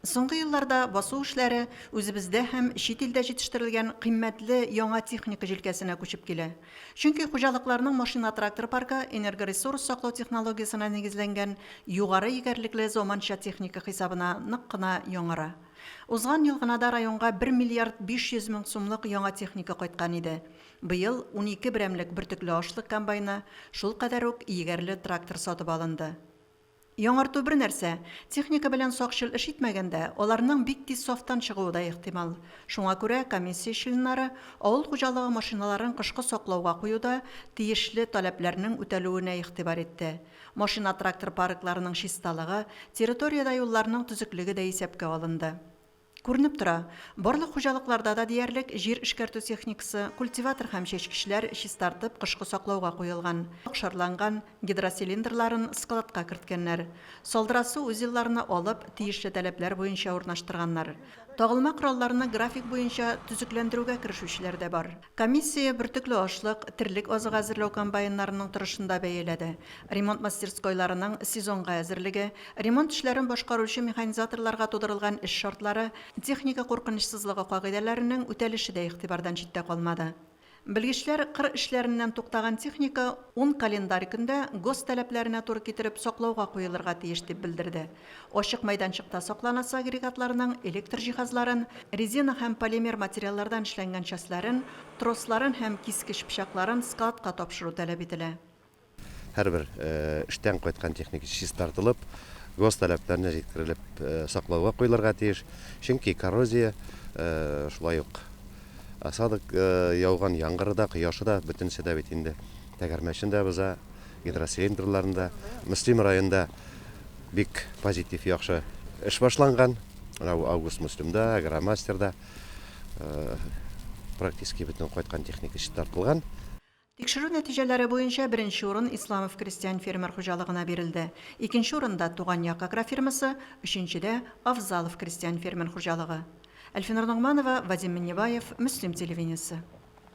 Соңгы елларда басу эшләре үзебездә һәм чит илдә җитештерелгән кыйммәтле яңа техника җилкәсенә күчеп килә. Чөнки хуҗалыкларның машина-трактор паркы энергоресурс саклау технологиясенә нигезләнгән югары егәрлекле заманча техника хисабына нык кына яңара. Узган ел гына да районга бер миллиард 500 мең сумлык яңа техника кайткан иде. Быел унике берәмлек бөртекле ашлык комбайны, шулкадәр үк егәрле трактор сатып алынды. Яңарту бер нәрсә, техника белән сакчыл эш итмәгәндә, аларның бик тиз сафтан чыгуы да ихтимал. Шуңа күрә комиссия членнары авыл хуҗалыгы машиналарын кышкы саклауга куюда тиешле таләпләрнең үтәлүенә игътибар итте. Машина-трактор паркларының чисталыгы, территориядә юлларның төзеклеге дә исәпкә алынды. Күренеп тора, барлык хуҗалыкларда да диярлек җир эшкәртү техникасы, культиватор һәм чәчкечләр чистартып, кышкы саклауга куелган. Шарланган гидроцилиндрларын складка керткәннәр. Салдырасу узелларны алып, тиешле таләпләр буенча урнаштырганнар. Тагылма коралларны график буенча төзекләндерүгә керешүчеләр дә бар. Комиссия бөртекле ашлык, терлек азыгы әзерләү комбайннарының торышын да бәяләде, ремонт мастерскойларының сезонга әзерлеге, ремонт эшләрен башкаручы механизаторларга тудырылган эш шартлары, техника куркынычсызлыгы кагыйдәләренең үтәлеше дә игътибардан читтә калмады. Белгечләр кыр эшләреннән туктаган техника ун календарь көндә ГОСТ таләпләренә туры китереп саклауга куелырга тиеш дип белдерде. Ачык мәйданчыкта сакланасы агрегатларның электр җиһазларын, резина һәм полимер материаллардан эшләнгән частьләрен, тросларын һәм кискеч пычакларын складка тапшыру таләп ителә. Һәрбер эштән кайткан техника чистартылып, гос таләпләренә җиткерелеп саклауга куелырга тиеш, чөнки коррозия, шулай ук осадок, яуган яңгыры да, кояшы да, бөтенесе дә бит инде тәгәрмәчен дә боза, Гидроцилиндрыларында, Мөслим районында бик позитив, яхшы эш башланган. Менә бу Август Мөслимда, Агромастерда практически бөтен кайткан техника чистартылган. Тикшерү нәтиҗәләре буенча беренче урын Исламов крестьян-фермер хуҗалыгына бирелде. Икенче урында, Туган як агрофирмасы, өченчедә, Авзалов крестьян-фермер хуҗалыгы. Әлфинур Ногманова, Вадим Миннебаев, Мөслим телевидениесе.